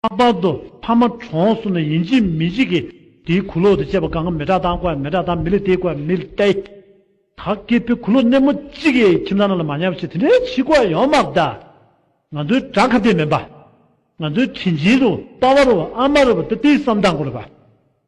ལྷག་པར་དུ་ཕ་མ་གྲོངས་སོང་ན་ཡིན་གཅིག་མིན་གཅིག་གིས་དེའི་གུ་ལོག་དུ་བཅས་པ་གང་གི་མི་དྲག་དང་བཀའི་མི་དྲག་དང་མི་ལི་ཏའི་བཀའི་མི་ལི་ཏའི་དག་གིས་ཕའི་གུ་ལོག་སྣེ་མོ་གཅིག་གི་ཁྱིམ་ཚང་རྣམས་ལ་མ་ཉམས་ཤིག་དེ་འདྲའི་ཕྱི་གོ་ཡོང་མ་གདའ། ང་ཚོའི་དགྲ་ཁ་གཏད་མིན་པ། ང་ཚོའི་དྲིན་ཅན་རུ་པ་བ་རུ་བ་ཨ་མ་རུ་བ་ཏི་ཏིའི་བསམ་སྟངས་སྐོར་ལ་བ།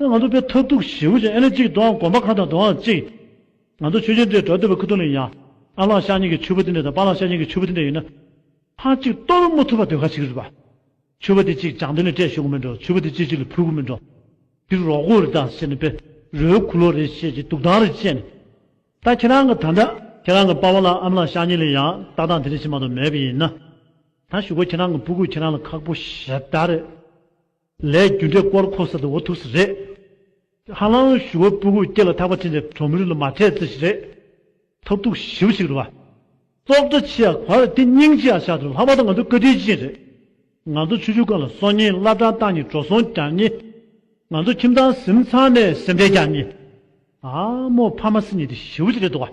ད་ང་ཚོ་པའི་མཐར་ཐུག་ཞི་བུ་ཅན་ཨེ་ལེ་གཅིག་དུའང་དགོངས་པ་གང་དང་དུའང་གཅིག། ང་ཚོ་ཆོས་ཅན་དེ་སྒྲ་དུལ་བ་ཁུ་ཐུང་ནས་ཡང། ཨ་ལག་ཤ་ཉེ་གི་ཆུ་བོ་དེ་འདྲ་དང་པ་ལག་ཤ་ཉེ་གི་ཆུ་བོ་དེ་འདྲ་ཡིན་ན། ཕར་གཅིག་གཏོར་རུ་མུ་ཐུབ་པ་དོན་ག་ཞིག་རེད་པ། ཆུ་བོ་དེ་གཅིག་བྱང་དུ་ནས་བསྐྲད་ཤོག་གི་མི་འགྲོ་ཆུ་བོ་དེ་གཅིག་གཅིག་ལ་འཕུལ་གི་མི་འགྲོ། འདིར་རོགས་སྐུ་རེ་དང་ཟེར་ནས་པེ་རོའི་ཁུ་ལོ་རེ་བཤད་ཅིག་དུག་ཐང་རེ་བཅད་ནས། ད་ཁྱེད་རང་གི་ད་འདྲ་ཁྱེད་རང་གི་པ་བ་ལག་ཨམ་ལག་ཤ་ཉེ་ལས་ཡང་ལྟ་སྟངས་དེ་འདྲ་ཞིག་མ་གཏོགས་མེད་པ་ཡིན་ན། ད་ཞུ་གོ་ཁྱེད་རང་གི་སྤུ་གུས་ཁྱེད་རང་ལ་ཁག་པོ་ཞེ་དྲག་རེད། ལས་རྒྱུ་འབྲས་སྐོར་ཁོ་ཟེར་དུ་འོ་ཐུགས་སུ་རེད། ཧ་ལམ་ཞུ་བ་སྤུ་གུག་སྐྱེ་ལ་ཐག་པ་ཕྲེང་ཅན་གྲོང་མི་རིགས་ལ་མ་འཕྲད་རྩི་ཞིག་རེད། ཐབས་རྡུག་ཞིབ་ཞིག་རེད་བ། སྲོག་དྲ་ཆེ་ཡ་ག་རེད་དེ་སྙིང་ཆེ་ཡ་ཤ་རེད་ལྷག་པར་དུ་ང་ཚོ་བཀའ་དྲིན་ཅན་རེད། ང་ཚོ་ཆུ་ཆུ་ཀ་ལ་སོང་ཉིན་བླ་བྲང་བཏང་ཉིན་གྲོ་སོང་བརྒྱག་ཉིན། ང་ཚོ་ཁྱིམ་ཚང་གཟིམ་ཚང་ནས་སེམས་ཁྲལ་རྒྱག་ཉིན། ཨ་མོ་ཕ་མ་སྲིད་ཉིན་དེ་ཞི་བོ་ཅིག་རེད་དོ་བ།